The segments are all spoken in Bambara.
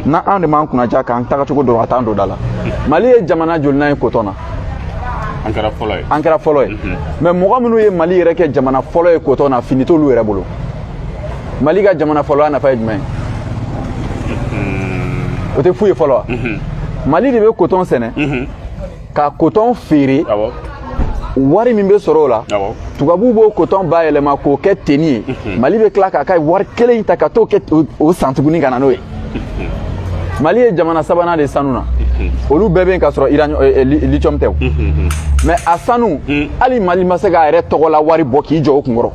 na anw de m'an kunnaja k'an tagacogo dɔn ka t'an don da la mali ye jamana jolinan ye kotɔn na an kɛra fɔlɔ ye an kɛra fɔlɔ ye mais mɔgɔ minnu ye mali yɛrɛ kɛ jamana fɔlɔ ye kotɔn na fini t'olu yɛrɛ bolo mali ka jamana fɔlɔya nafa ye jumɛn ye o tɛ fu ye fɔlɔ wa mali de bɛ kotɔn sɛnɛ ka kotɔn feere wari min bɛ sɔrɔ o la tubabuw b'o kotɔn bayɛlɛma k'o kɛ teni ye mhm. mali bɛ tila k'a ka wari kelen in ta ka t'o kɛ o san tuguni ka na n'o ye mhm. mali ye jamana sabanan de sanu na mhm. olu bɛɛ bɛ yen k'a sɔrɔ eh, eh, lithium tɛ o mais a sanu hali mali ma se k'a yɛrɛ tɔgɔ la wari bɔ k'i jɔ o kunkɔrɔ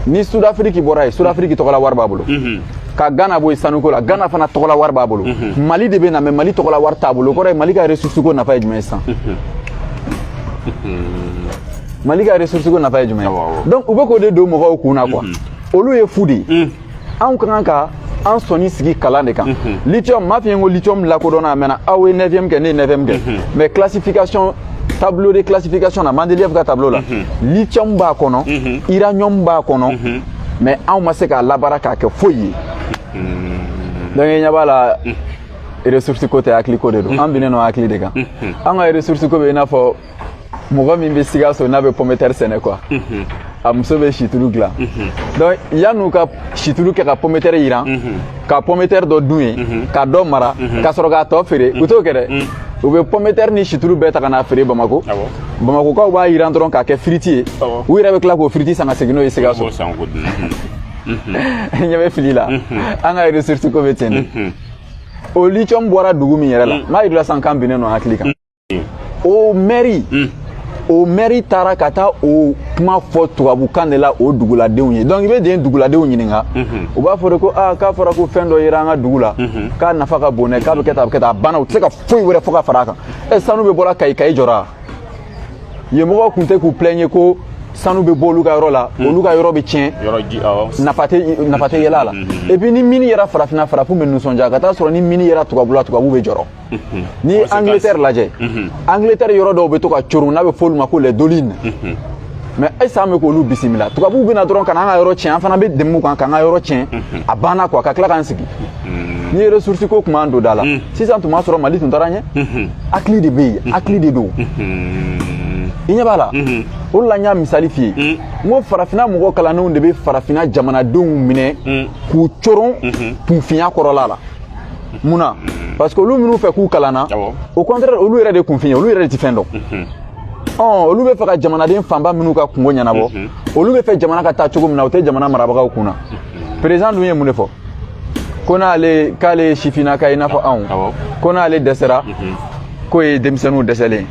ni sudafiriki bɔra yen sudafiriki tɔgɔla wari b'a bolo mhm. ka gana bɔ yen sanuko la gana fana tɔgɔla wari b'a bolo mhm. mali de bɛ na mais mali tɔgɔla wari t'a bolo o kɔrɔ ye mali ka ressource ko nafa ye jumɛn ye sisan mhm. mali ka ressource ko nafa ye jumɛn ye donc u bɛ k'o de don mɔgɔw kun na quoi olu ye fu de ye anw ka kan ka an sɔnin sigi kalan de kan mhm. lithium m'a f'i ye ko lithium lakodɔnna a mɛnna aw ye 9e kɛ ne ye 9e kɛ mhm. mais classification tableau de classification na Mendeleev ka tableau la mhm. lithium b'a kɔnɔ uranium b'a kɔnɔ mais anw ma se k'a labaara k'a kɛ foyi ye donc i ɲɛ b'a la ressource ko tɛ hakili ko de don an binnen don hakili de kan an ka ressource ko bɛ i n'a fɔ mɔgɔ min bɛ sikaso n'a bɛ pɔmɛtɛri sɛnɛ quoi a muso bɛ situlu dilan donc yan'u ka situlu kɛ ka pɔmɛtɛri jiran ka pɔmɛtɛri dɔ dun yen ka dɔ mara ka sɔrɔ k'a tɔ feere u t'o kɛ dɛ u bɛ pɔmɛtɛri ni situlu bɛɛ ta ka n'a feere bamako bamakokaw b'a jiran dɔrɔn k'a kɛ firiti ye u yɛrɛ bɛ tila k'o firiti san ka segin n'o ye sikaso ɲɛ bɛ fili la an ka ressource ko bɛ ten de o lithium bɔra dugu min yɛrɛ la n b'a yir'u la sisan k'an binnen don hakili kan o mɛri hmm. o mɛri taara ka taa o kuma fɔ tubabukan de la o duguladenw ye donc i bɛ den duguladenw ɲininka mhm. u b'a fɔ de ko aa ah, k'a fɔra ko fɛn dɔ yera an ka dugu la mhm. k'a nafa ka bon dɛ k'a bɛ kɛ tan a bɛ kɛ tan a banna u tɛ se ka foyi wɛrɛ fɔ ka fara a kan ɛ eh, sanu bɛ bɔra kayi kayi jɔra yen mɔgɔw tun tɛ k'u plaindre ko sanu bɛ bɔ olu ka yɔrɔ la hmm. olu ka yɔrɔ bɛ tiɲɛ nafa tɛ yɛlɛ a la hmm, hmm, et puis ni mini yera farafinna farafinw bɛ nisɔndiya ka taa sɔrɔ ni mini yera tubabula tubabu bɛ jɔrɔ Mhm. n'i ye angleterre lajɛ mhm. angleterre yɔrɔ dɔw bɛ to ka coron n'a bɛ f'olu ma ko les dolines mhm. mais ayisa an bɛ k'olu bisimila tubabuw bɛna dɔrɔn ka n'an ka yɔrɔ tiɲɛ an fana bɛ dɛmɛ u kan k'an ka yɔrɔ tiɲɛ a banna quoi ka tila k'an sigi ni ye ressource ko tun b'an don da la sisan tun b'a sɔrɔ mali tun taara ɲɛ hakili de bɛ yen hakili de don i ɲɛ b'a la o de la n y'a misali f'i ye n ko farafinna mɔgɔ kalannenw de bɛ farafinna jamanadenw minɛ k'u coron kunfinya kɔrɔla la mun na parce que olu minnu fɛ k'u kalanna au contraire olu yɛrɛ de kunfin ye olu yɛrɛ de ti fɛn dɔn ɔn olu bɛ fɛ ka jamanaden fanba minnu ka kungo ɲɛnabɔ olu bɛ fɛ jamana ka taa cogo min na o tɛ jamana marabagaw kun na perezan dun ye mun de fɔ ko n'ale k'ale ye sifinnaka ye i n'a fɔ anw ko n'ale dɛsɛra k'o ye denmisɛnninw dɛsɛlen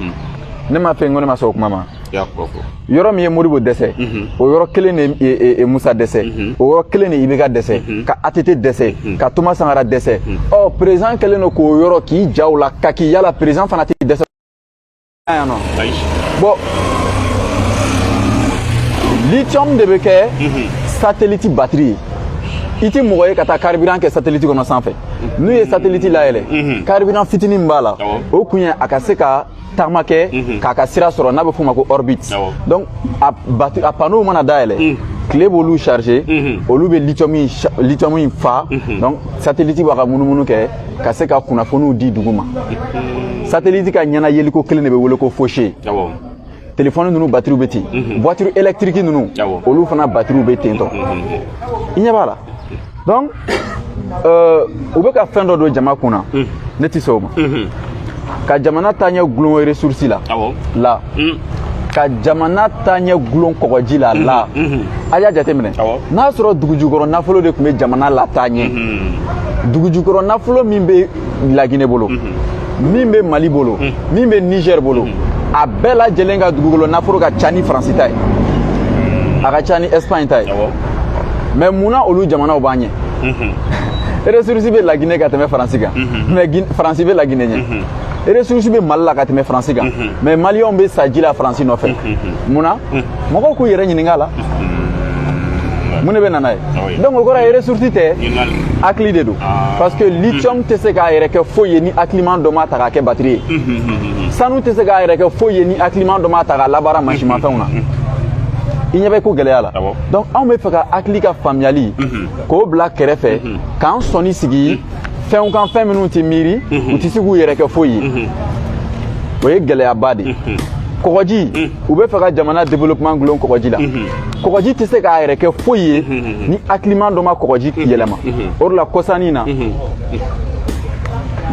ne ma fɛn ko ne ma sɔn o kuma ma yɔrɔ min ye modibo dɛsɛ mhm. o yɔrɔ kelen de ye musa dɛsɛ mhm. o yɔrɔ kelen de ye ibeka dɛsɛ mhm. ka atete dɛsɛ ka toma sankara dɛsɛ ɔ perezan kɛlen don k'o yɔrɔ k'i jaw la ka k'i yala perezan fana tɛ dɛsɛ yan nɔ bɔn lithium de bɛ kɛ sateliti batiri ye i tɛ mɔgɔ ye ka taa karibiran kɛ sateliti kɔnɔ sanfɛ n'u ye sateliti layɛlɛ karibiran fitinin b'a la o kun ye a ka se ka tagama kɛ mhm. k'a ka sira sɔrɔ n'a bɛ f'o ma ko orbite donc a batu a panneau mana dayɛlɛ mhm. tile b'olu charger mhm. olu bɛ lithium in lithium in fa donc satellite b'a ka munumunu kɛ ka se ka kunnafoniw di dugu ma satellite ka ɲɛna yeliko kelen de bɛ wele ko fauchée telefɔni ninnu batiriw bɛ ten voiture électrique ninnu olu fana batiriw bɛ ten tɔ i ɲɛ b'a la donc euh, u bɛ ka fɛn dɔ don jama kun na mm. ne tɛ sɔn o ma mm-hmm. ka jamana taaɲɛ gulon ressource la la mm. ka jamana taaɲɛ gulon kɔgɔji la la mm-hmm. Mm-hmm. a y'a jateminɛ n'a sɔrɔ dugujukɔrɔ nafolo de tun bɛ jamana lataa ɲɛ dugujukɔrɔ nafolo min bɛ lagine bolo min bɛ mali bolo min bɛ niger bolo a bɛɛ lajɛlen ka dugukolo nafolo ka ca ni faransi ta ye a ka ca ni espagne ta ye mɛ mun na olu jamanaw b'an ɲɛ ressource bɛ lagine ka tɛmɛ faransi kan mɛ faransi bɛ lagine ɲɛ ressource bɛ mali la ka tɛmɛ faransi kan mɛ maliyɛnw bɛ sa ji la faransi nɔfɛ mun na mɔgɔw k'u yɛrɛ ɲininka a la mun de bɛ na n'a ye donc o kɔrɔ ye ressource tɛ hakili de don ah. parce que lithium mm. tɛ se k'a yɛrɛ kɛ foyi ye ni hakiliman dɔ m'a ta k'a kɛ batiri ye mm, mm, sanu tɛ se k'a yɛrɛ kɛ foyi ye ni hakiliman dɔ m'a ta k'a labaara mansinmafɛnw na i ɲɛ bɛ ko gɛlɛya la ah donc anw bɛ fɛ ka hakili ka faamuyali k'o bila kɛrɛfɛ k'an sɔnni sigi fɛnw kan fɛn minnu tɛ miiri mhm. u tɛ se k'u yɛrɛ kɛ foyi ye mhm. o ye gɛlɛyaba de ye mhm. kɔgɔji u bɛ fɛ ka jamana développement gulon kɔgɔji la kɔgɔji tɛ se k'a yɛrɛ kɛ foyi ye ni hakiliman dɔ ma kɔgɔji yɛlɛma o de la kɔsa nin na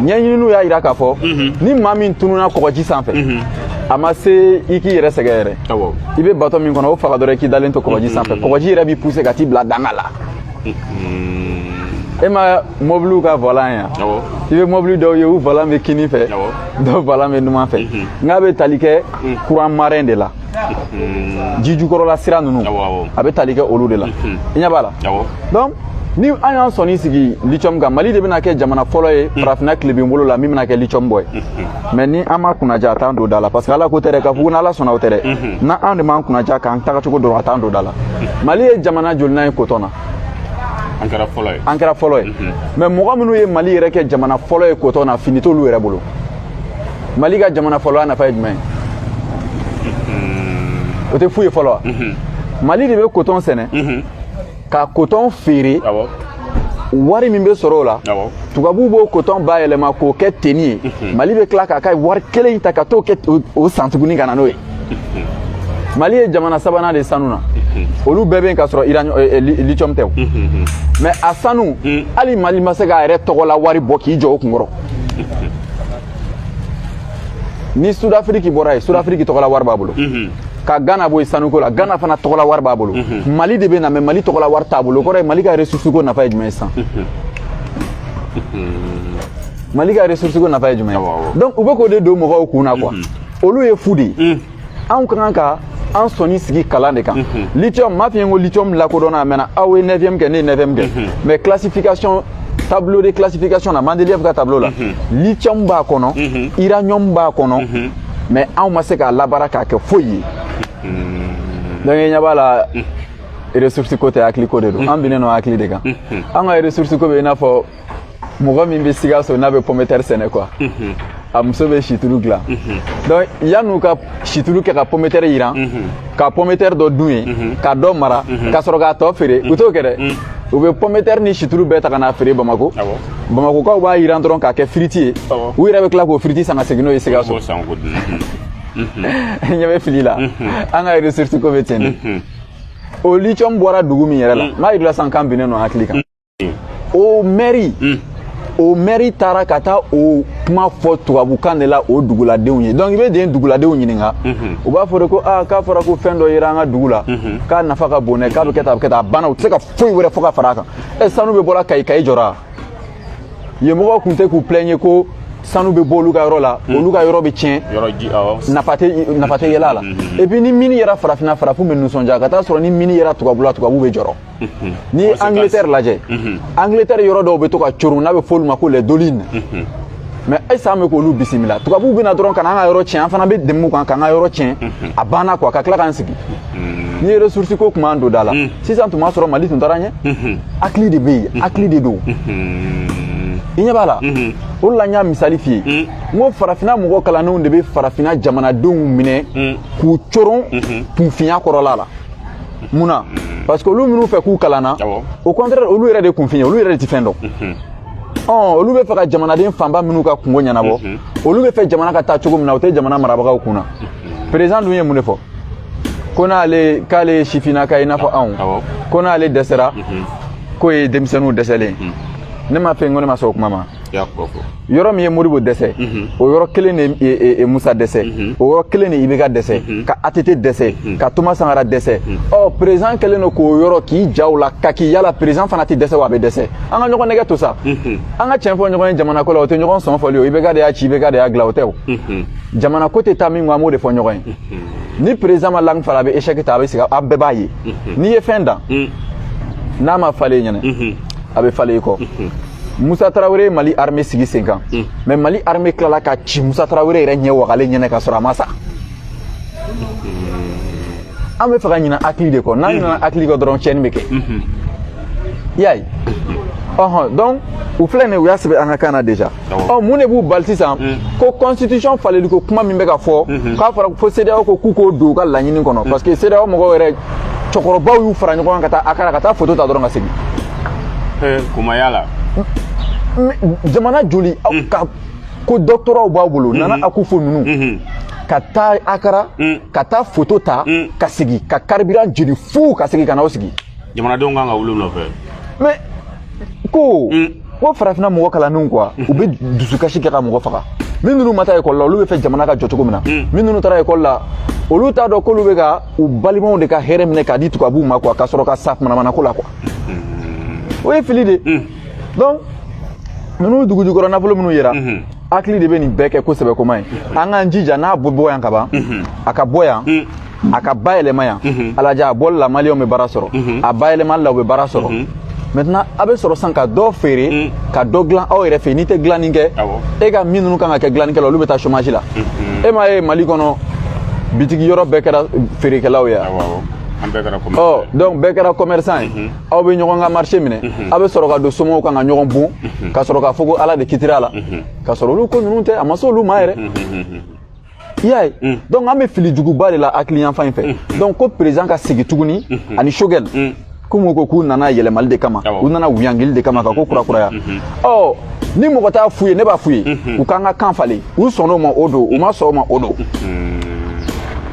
ɲɛɲininiw y'a jira k'a fɔ ni maa min tununa kɔgɔji sanfɛ a ma se i k'i yɛrɛ sɛgɛn yɛrɛ i bɛ bato min kɔnɔ o faga dɔrɔn i k'i dalen to kɔgɔji sanfɛ kɔgɔji yɛrɛ b'i puse ka t'i bila dankan la e ma mɔbiliw ka vɔlan ye wa i bɛ mɔbili dɔw ye u vɔlan bɛ kini fɛ dɔw vɔlan bɛ numan fɛ mhm. n'a bɛ tali kɛ mhm. kuran marɛn de la mhm. ji jukɔrɔla sira ninnu a bɛ tali kɛ olu de la i ɲɛ b'a la donc ni an y'an sɔnni sigi lithium kan mali de bɛna kɛ jamana fɔlɔ ye farafinna tilebinbolo la min bɛna kɛ lithium bɔ ye mɛ ni an ma kunnaja a t'an don da la parce que ala ko tɛ dɛ k'a fɔ ko n'ala sɔnna o tɛ dɛ na an de m'an kunnaja k'an tagacogo dɔrɔn a t'an don da la mali ye jamana jolinan ye kotɔn na an kɛra fɔlɔ ye mɛ mɔgɔ minnu ye mali yɛrɛ kɛ jamana fɔlɔ ye kotɔn na fini t'olu yɛrɛ bolo mali ka jamana fɔlɔ nafa ye jumɛn ye o tɛ fu ye fɔlɔ wa mali de bɛ kotɔn sɛnɛ ka kotɔn feere wari min bɛ sɔrɔ o la tubabuw b'o kotɔn bayɛlɛma k'o kɛ teni ye mhm. mali bɛ tila k'a ka wari kelen in ta ka t'o kɛ o san tuguni ka na n'o ye mhm. mali ye jamana sabanan de sanu na mhm. olu bɛɛ bɛ yen k'a sɔrɔ eh, eh, lithium tɛ o mɛ a sanu hali mali ma se k'a yɛrɛ tɔgɔla wari bɔ k'i jɔ o kunkɔrɔ ni sudafiriki bɔra yen sudafiriki tɔgɔla wari b'a bolo mhm. ka gana bɔ yen sanuko la gana fana tɔgɔla wari b'a bolo mhm. mali de bɛ na mɛ mali tɔgɔla wari t'a bolo o kɔrɔ ye mali ka ressource ko nafa ye jumɛn ye sisan mali ka ressource ko nafa ye jumɛn ye donc u bɛ k'o de don mɔgɔw kun na quoi olu ye fu de ye anw ka kan ka an sɔnni sigi kalan de kan mhm. lithium m'a f'i ye ko lithium lakodɔnna a mɛnna aw ye 9e kɛ ne ye 9e kɛ mhm. mais classification tableau de classification na Mendeleev ka tableau la mhm. lithium b'a kɔnɔ uranium b'a kɔnɔ mais anw ma se k'a labaara k'a kɛ foyi ye donc i ɲɛ b'a la ressource ko tɛ hakili ko de don an binnen don hakili de kan an ka ressource ko bɛ i n'a fɔ mɔgɔ min bɛ sikaso n'a bɛ pɔmɛtɛri sɛnɛ quoi a muso bɛ situlu dilan donc yan'u ka situlu kɛ ka pɔmɛtɛri yiran ka pɔmɛtɛri dɔ dun yen ka dɔ mara ka sɔrɔ k'a tɔ feere u t'o kɛ dɛ u bɛ pɔmɛtɛri ni situlu bɛɛ ta ka n'a feere bamako bamakokaw b'a yiran dɔrɔn k'a kɛ firiti ye u yɛrɛ bɛ tila k'o firiti san ka segin n'o ye sikaso ɲɛ bɛ fili la an ka ressource ko bɛ ten de o lithium bɔra dugu min yɛrɛ la n b'a yir'i la sisan k'an binnen don hakili kan o mɛri hmm. o mɛri taara ka taa o kuma fɔ tubabukan de la o duguladenw ye donc i bɛ den duguladenw ɲininka hmm. u b'a fɔ de ko aa k'a fɔra ko fɛn dɔ yera an ka dugu la hmm. k'a nafa ka bon dɛ k'a bɛ kɛ tan a bɛ kɛ tan a banna u tɛ se ka foyi wɛrɛ fɔ ka fara a kan ɛ sanu bɛ bɔra kayi kayi jɔra yen mɔgɔw tun tɛ k'u plɛnye ko sanu bɛ bɔ olu ka yɔrɔ la hmm. olu ka yɔrɔ bɛ tiɲɛ nafa tɛ yɛlɛ a la epi ni mini yera farafinna farafinw bɛ nisɔndiya ka t'a sɔrɔ ni mini yera tubabula tubabu bɛ jɔrɔ n'i ye angleterre lajɛ angleterre yɔrɔ dɔw bɛ to ka coron n'a bɛ f'olu ma ko les dolines mais ayisa an bɛ k'olu bisimila tubabuw bɛ na dɔrɔn ka na an ka yɔrɔ tiɲɛ an fana bɛ dɛmɛ u kan k'an ka yɔrɔ tiɲɛ a banna quoi ka tila k'an sigi n'i ye ressource ko tun b'an don da la sisan tun b'a sɔrɔ mali tun taara ɲɛ hakili de bɛ yen hakili de don i ɲɛ b'a la o de la n y'a misali f'i ye n ko farafinna mɔgɔ kalannenw de bɛ farafinna jamanadenw minɛ k'u coron kunfinya kɔrɔla la mun na parce que olu minnu fɛ k'u kalanna au contraire olu yɛrɛ de kunfin ye olu yɛrɛ de ti fɛn dɔn ɔn olu bɛ fɛ ka jamanaden fanba minnu ka kunko ɲɛnabɔ olu bɛ fɛ jamana ka taa cogo min na o tɛ jamana marabagaw kun na président dun ye mun de fɔ ko n'ale k'ale ye sifinnaka ye i n'a fɔ anw ko n'ale dɛsɛra k'o ye denmisɛnninw dɛsɛlen ne ma fɛn ko ne ma sɔn o kuma ma yɔrɔ min ye modibo dɛsɛ mhm. o yɔrɔ kelen de e, e, e, musa dɛsɛ mhm. o yɔrɔ kelen de ibeka dɛsɛ mhm. ka ATT dɛsɛ ka thomas sankara dɛsɛ ɔ président kɛlen don k'o yɔrɔ k'i ja o la ka k'i yala président fana tɛ dɛsɛ wa a bɛ dɛsɛ an ka ɲɔgɔn nɛgɛ to sa an ka tiɲɛ fɔ ɲɔgɔn ye jamanako la o tɛ ɲɔgɔn sɔn fɔli o ibeka de y'a ci ibeka de y'a dilan o tɛ o jamanako tɛ taa min kɔ an b'o de fɔ ɲɔgɔn ye ni président ma langue falen a bɛ échec ta a bɛ sigi a bɛɛ b'a ye n'i ye fɛn dan n'a ma falen i ɲɛ na a bɛ falen i kɔ Musa Tarawele ye Mali armée sigi sen kan hmm. mais Mali armée tilala ka ci Musa Tarawele yɛrɛ ɲɛ wagalen ɲɛ na ka sɔrɔ a ma sa hmm. an bɛ fɛ ka ɲina hakili de kɔ n'an hmm. ɲinana hakili kɔ dɔrɔn tiɲɛni bɛ kɛ i y'a ye ɔhɔn donc u filɛ nin u y'a sɛbɛn an ka kan na déjà ɔ mun de b'u bali sisan ko constitution faleliko kuma min bɛ ka fɔ k'a fɔra fo CEDEAO ko k'u k'o don u ka laɲini kɔnɔ parce que CEDEAO mɔgɔw yɛrɛ cɛkɔrɔbaw y'u fara ɲɔgɔn kan ka taa akara ka taa foto ta dɔrɔn ka segin kumaya la jamana joli ka ko doctoratw b'a bolo nana akufo ninnu ka taa akara ka taa foto ta ka segin ka carburant jeni fuu ka segin ka na u sigi jamanadenw kan ka wuli nɔfɛ mais ko ko farafinna mɔgɔ kalannenw quoi u bɛ dusukasi kɛ ka mɔgɔ faga min ninnu ma taa ekɔli la olu bɛ fɛ jamana ka jɔ cogo min na min ninnu taara ekɔli la olu t'a dɔn k'olu bɛ ka u balimaw de ka hɛrɛ minɛ k'a di tubabuw ma quoi ka sɔrɔ ka sa manamana ko la quoi o ye fili de donc ninnu dugujukɔrɔ nafolo minnu yera hakili de bɛ nin bɛɛ kɛ kosɛbɛ koma ye an k'an jija n'a bɛ bɔ yan ka ban a ka bɔ yan a ka bayɛlɛma yan a lajɛ a bɔli la maliyɛnw bɛ baara sɔrɔ a bayɛlɛmali la u bɛ baara sɔrɔ maintenant a bɛ sɔrɔ sisan ka dɔ feere ka dɔ dilan aw yɛrɛ fɛ yen n'i tɛ dilanni kɛ e ka min ninnu kan ka kɛ dilannikɛla olu bɛ taa chômage la e m'a ye mali kɔnɔ bitigi yɔrɔ bɛɛ kɛra feerekɛlaw ye ɔ donc bɛɛ kɛra commerçant ye aw bɛ ɲɔgɔn ka marché minɛ aw bɛ sɔrɔ ka don somɔgɔw kan ka ɲɔgɔn bon ka sɔrɔ k'a fɔ ko ala de kitira a la ka sɔrɔ olu ko ninnu tɛ a ma se olu ma yɛrɛ i y'a ye mm. donc an bɛ fili juguba de la hakili yanfan in fɛ mm. donc ko président ka segin tuguni mm-hmm. ani sogɛl mm. komi ko k'u nana yɛlɛmali de kama u nana wuyangili de kama ka ko kurakuraya mm-hmm. mm-hmm. ɔ ni mɔgɔ t'a f'u ye ne b'a f'u ye u k'an ka kan falen u sɔnn'o ma o don u ma sɔn o ma o don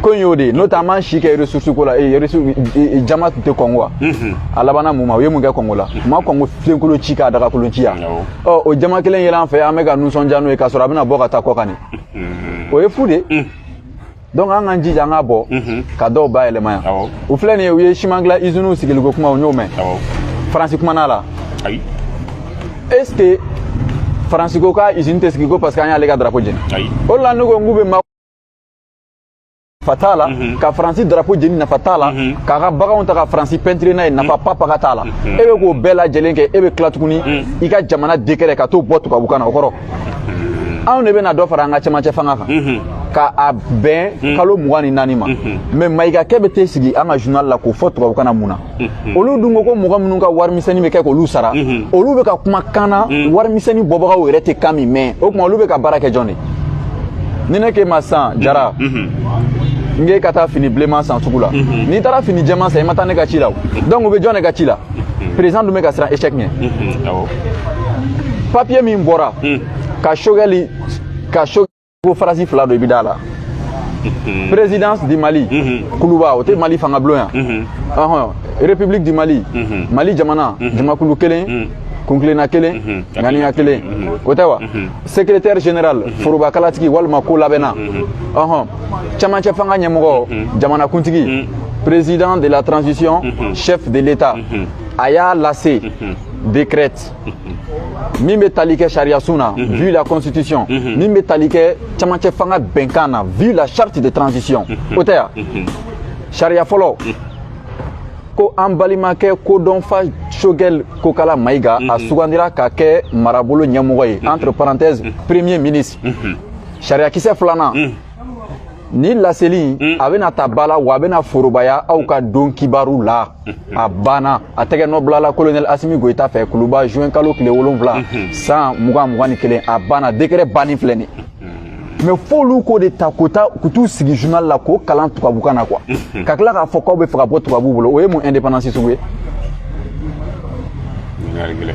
ko in y'o de ye n'o tɛ an b'an si kɛ ressource ko la eh, ressource eh, eh, jama tun tɛ kɔn quoi mhm. a labanna mun ma u ye mun kɛ kɔngo la u ma kɔngo filenkolon ci k'a dagakolon ci yan ɔ o jama kelen yɛlɛ an fɛ an bɛ ka nisɔndiya n'o ye k'a sɔrɔ a bɛna bɔ ka taa kɔ kan de o ye fu de donc an k'an jija an ka bɔ ka dɔw bayɛlɛma yan u filɛ nin ye u ye siman dilan iziniw sigiliko kuma u y'o mɛn faransi kumana la est ce que faransi ko k'izini tɛ sigi ko parce que an y'ale ka drapo jeni o de la ne ko n k'u bɛ nafa t'a la ka faransi darapo jeni nafa t'a la k'a ka baganw ta ka faransi pɛntire n'a ye nafa papa ka t'a la e bɛ k'o bɛɛ lajɛlen kɛ e bɛ tila tuguni i ka jamana dekɛrɛ ka t'o bɔ tubabukan na o kɔrɔ anw de bɛna dɔ fara an ka cɛmancɛ fanga kan ka a bɛn kalo mugan ni naani ma mais mayigakɛ bɛ t'i sigi an ka journal la k'o fɔ tubabukan na mun na olu dun ko ko mɔgɔ minnu ka warimisɛnni bɛ kɛ k'olu sara olu bɛ ka kuma kan na warimisɛnni bɔbagaw yɛrɛ tɛ kan min mɛn o tuma olu bɛ ka baara kɛ jɔn de ni ne k'e ma sisan jara n k'e ka taa fini bilenman san sugu la n'i taara fini jɛman san i ma taa ne ka ci la donc u bɛ jɔn de ka ci la président dun bɛ ka siran échec ɲɛ papiye min bɔra ka sogɛli ta ko phrase fila don i bɛ d'a la mhm. présidence du mali mhm. kuluba o tɛ mali fanga bulon yan mhm. ɔhɔn république du mali mali jamana jamakulu kelen kuntilenna kelen ŋaniya kelen o tɛ wa secrétaire général forobakalatigi walima ko labɛnna ɔhɔn camancɛ fanga ɲɛmɔgɔ jamanakuntigi président de la transition chef de l'état a y'a lase décrète min bɛ tali kɛ sariyasun na mhm. vu la constitution mhm. min bɛ tali kɛ camancɛ fanga bɛnkan na vu la charte de transition mhm. o tɛ ya sariya fɔlɔ ko an balimakɛ kodɔnfa sogɛl kokala mayiga a sugandira ka kɛ marabolo ɲɛmɔgɔ ye entre parenthèses premier ministre sariyakisɛ filanan nin laseli a bɛna ta ba la wa a bɛna forobaya aw ka don kibaru la a banna a tɛgɛ nɔ bilala kolonɛli asimi goyita fɛ kuluba juin kalo tile wolonfila mhm. san mugan mugan ni kelen a banna dekrɛ banni filɛ nin mhm. mais f'olu k'o de ta k'o ta k'u t'u sigi journal la k'o kalan tubabukan na quoi mhm. ka tila k'a fɔ k'aw bɛ fɛ ka bɔ tubabuw bolo o ye mun indépendance sugu ye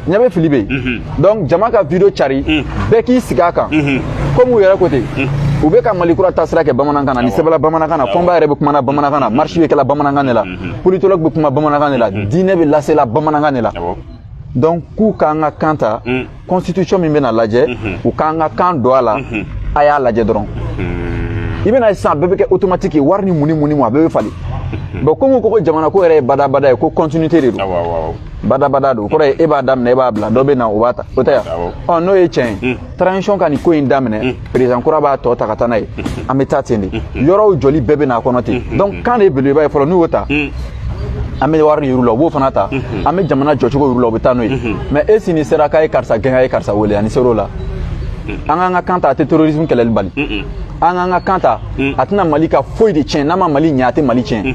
ɲɛ bɛ fili bɛ yen donc jama ka video cari bɛɛ k'i sigi a kan komi u yɛrɛ ko ten u bɛ ka mali kura taasira kɛ bamanankan na nin sɛbɛla bamanankan na fɔnba yɛrɛ bɛ kumana bamanankan na marche bɛ kɛla bamanankan de la politologue bɛ kuma bamanankan de la diinɛ bɛ lasela bamanankan de la donc k'u k'an ka kan ta constitution min bɛna lajɛ u k'an ka kan don a la a y'a lajɛ dɔrɔn i bɛna sisan bɛɛ bɛ kɛ automatique wari ni mun ni mun ni mun a bɛɛ bɛ falen bon komi ko ko jamana ko yɛrɛ ye badabada ye ko continuité de don badabada don o kɔrɔ ye e b'a daminɛ e b'a bila dɔ bɛ na o b'a ta o tɛ yan ɔ n'o ye tiɲɛ ye transition ka nin ko in daminɛ perezan kura b'a tɔ ta ka taa n'a ye an bɛ taa ten de yɔrɔw jɔli bɛɛ bɛ n'a kɔnɔ ten donc kan de ye belebeleba ye fɔlɔ n'u y'o ta an bɛ wari yir'u la u b'o fana ta an bɛ jamana jɔcogo yir'u la u bɛ taa n'o ye mais e sini sera k'a ye karisa gɛn a ye karisa wele ani ser'o la an k'an ka kan ta a tɛ terrorisme kɛlɛli bali an k'an ka kan ta a tɛna mali ka foyi de tiɲɛ n'a ma mali ɲɛ a tɛ mali tiɲɛ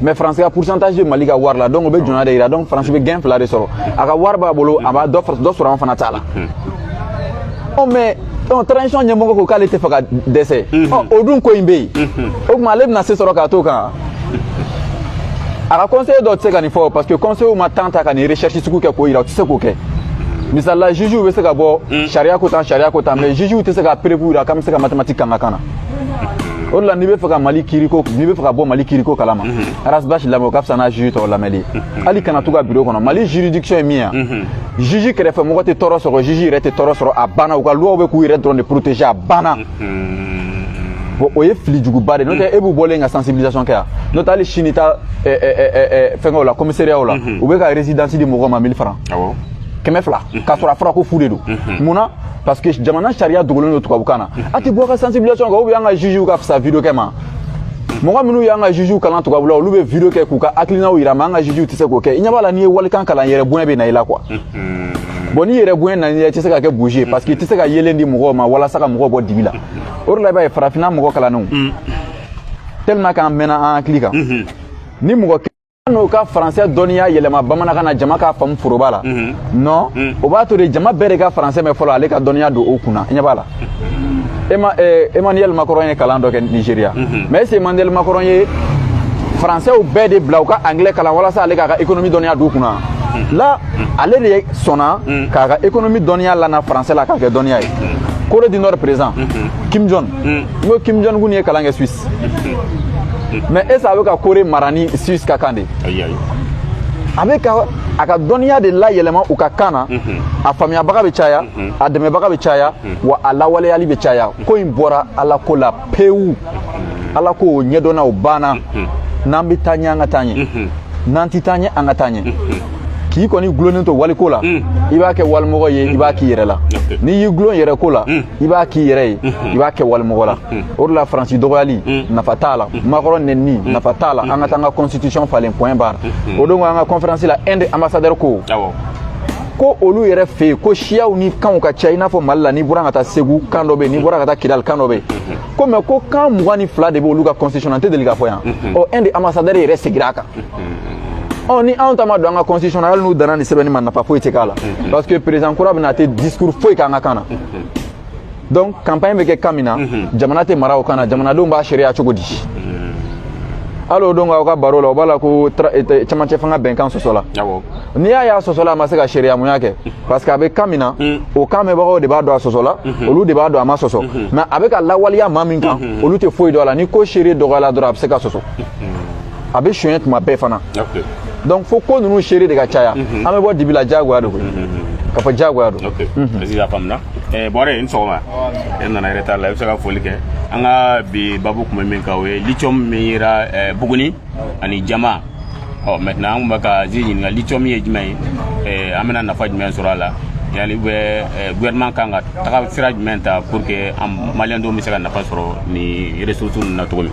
mais faransi ka pourcentage bɛ mali ka wari la donc o bɛ jɔnya de yira donc faransi bɛ gain fila de sɔrɔ a ka wari b'a bolo a b'a dɔ sɔrɔ an fana ta la mais donc transition ɲɛmɔgɔ ko k'ale tɛ fɛ ka dɛsɛ o dun ko in bɛ yen o tuma ale bɛna se sɔrɔ k'a to kan a ka conseiller dɔ tɛ se ka nin fɔ parce que conseiller ma temps ta ka nin recherche sugu kɛ k'o yira u tɛ se k'o kɛ misalila jugew bɛ se ka bɔ sariya ko tan sariya ko tan mais jugew tɛ se ka preuve yira k'an bɛ se ka mathématique k'an ka kan na o de la n'i bɛ fɛ ka mali kiiriko n'i bɛ fɛ ka bɔ mali kiiriko kalama ras bath lamɛn o ka fisa n'a juge tɔw lamɛnli hali kana to ka biro kɔnɔ mali juridiction ye min ye juge kɛrɛfɛ mɔgɔ tɛ tɔɔrɔ sɔrɔ juge yɛrɛ tɛ tɔɔrɔ sɔrɔ a banna u ka loiw bɛ k'u yɛrɛ dɔrɔn de protéger a banna bon o ye fili juguba de n'o tɛ e b'u bɔlen ka sensibilisation kɛ yan n'o tɛ hali sini taa fɛnkɛw la commissariatw la u bɛ ka résidence di mɔgɔ ma 1000 francs kɛmɛ fila k'a sɔrɔ a fɔra ko fu de don mun na parce que jamana sariya dogolen don tubabukan na a tɛ bɔ ka sensibilisation kɛ ou bien an ka jugew ka fisa video kɛ ma mɔgɔ minnu y'an ka jugew kalan tubabula olu bɛ video kɛ k'u ka hakilinaw yira mais an ka jugew tɛ se k'o kɛ i ɲɛ b'a la n'i ye walikan kalan yɛrɛ bonya bɛ na i la quoi bon ni yɛrɛ bonya nana i tɛ se ka kɛ bougie ye parce que i tɛ se ka yeelen di mɔgɔw ma walasa ka mɔgɔw bɔ dibi la o de la i b'a ye farafinna mɔgɔ kalannenw tellement k'an mɛnna an hakili kan ni mɔgɔ n'o ka faransɛ dɔnniya yɛlɛma bamanankan na jama k'a faamu foroba la mhm. non mhm. o b'a to de jama bɛɛ de ka faransɛ mɛn fɔlɔ ale ka dɔnniya don o kunna ɲɛ b'a la eh, emmanuel macron ye kalan dɔ kɛ nigeria mhm. mais est ce que emmanuel macron ye faransɛw bɛɛ de bila u ka anglais kalan walasa ale k'a ka économie dɔnniya don u kunna la ale de sɔnna k'a ka économie dɔnniya lana faransɛ la k'a kɛ dɔnniya ye corée du nord président kim jong n ko kim jong un ye kalan kɛ suisse mais est ce a bɛ ka corée mara ni suisse ka kan de a bɛ ka a ka dɔnniya de layɛlɛma u ka kan na mhm. a faamuyabaga bɛ caya mhm. a dɛmɛbaga bɛ caya mhm. wa a lawaleyali bɛ caya ko in bɔra ala ko la pewu ala ko o ɲɛdɔnna o banna n'an bɛ taa ɲɛ an ka taa ɲɛ n'an tɛ taa ɲɛ an ka taa ɲɛ k'i kɔni gulonnen to waliko la i b'a kɛ walimɔgɔ ye i b'a k'i yɛrɛ la n'i y'i gulon yɛrɛ ko la i b'a k'i yɛrɛ ye i b'a kɛ walimɔgɔ la o de la faransi dɔgɔyali nafa t'a la Macron nɛnini nafa t'a la an ka taa an ka constitution falen point barre o don an ka conférence la inde ambassadeur ko ko olu yɛrɛ fɛ yen ko siyaw ni kanw ka ca i n'a fɔ mali la n'i bɔra ka taa segu kan dɔ bɛ yen n'i bɔra ka taa kidali kan dɔ bɛ yen ko mais ko kan mugan ni fila de bɛ olu ka constitution na n tɛ deli k'a fɔ yan ɔ inde ambassadeur yɛrɛ segira a kan ɔ ni anw ta ma don an ka constitution na hali n'u danna nin sɛbɛnni ma nafa foyi tɛ k'a la parce que président kura bɛ na tɛ discours foyi k'an ka kan na donc campagne bɛ kɛ kan min na jamana tɛ mara o kan na jamanadenw b'a seereya cogo di hali o don k'aw ka baro la o b'a la ko cɛmancɛ fanga bɛnkan sɔsɔla n'i y'a y'a sɔsɔla a ma se ka seereyamuya kɛ parce que a bɛ kan min na o kan mɛnbagaw de b'a dɔn a sɔsɔla olu de b'a dɔn a ma sɔsɔ mais a bɛ ka lawaleya maa minw kan olu tɛ foyi dɔn a la ni ko seere dɔgɔyala dɔrɔn a bɛ se ka sɔsɔ a bɛ sonyɛ tuma bɛɛ fana donc fo ko ninnu seere de ka caya mhm. an bɛ bɔ dibi la diyagoya don koyi mhm, mhm, ka fɔ diyagoya don est-ce que a faamuna eh, bɔrɛ i ni sɔgɔma e nana retard la i bɛ se ka foli kɛ an ka bi babu tun bɛ min kan o ye lithium min yera eh, buguni ani jama ɔ maintenant an tun bɛ ka zi ɲininka lithium ye jumɛn ye eh, an bɛna nafa jumɛn sɔrɔ a la ani bi gouvernement kan ka tagasira jumɛn ta pour que an maliyɛn dɔw bɛ se ka nafa sɔrɔ nin ressources ninnu na cogo min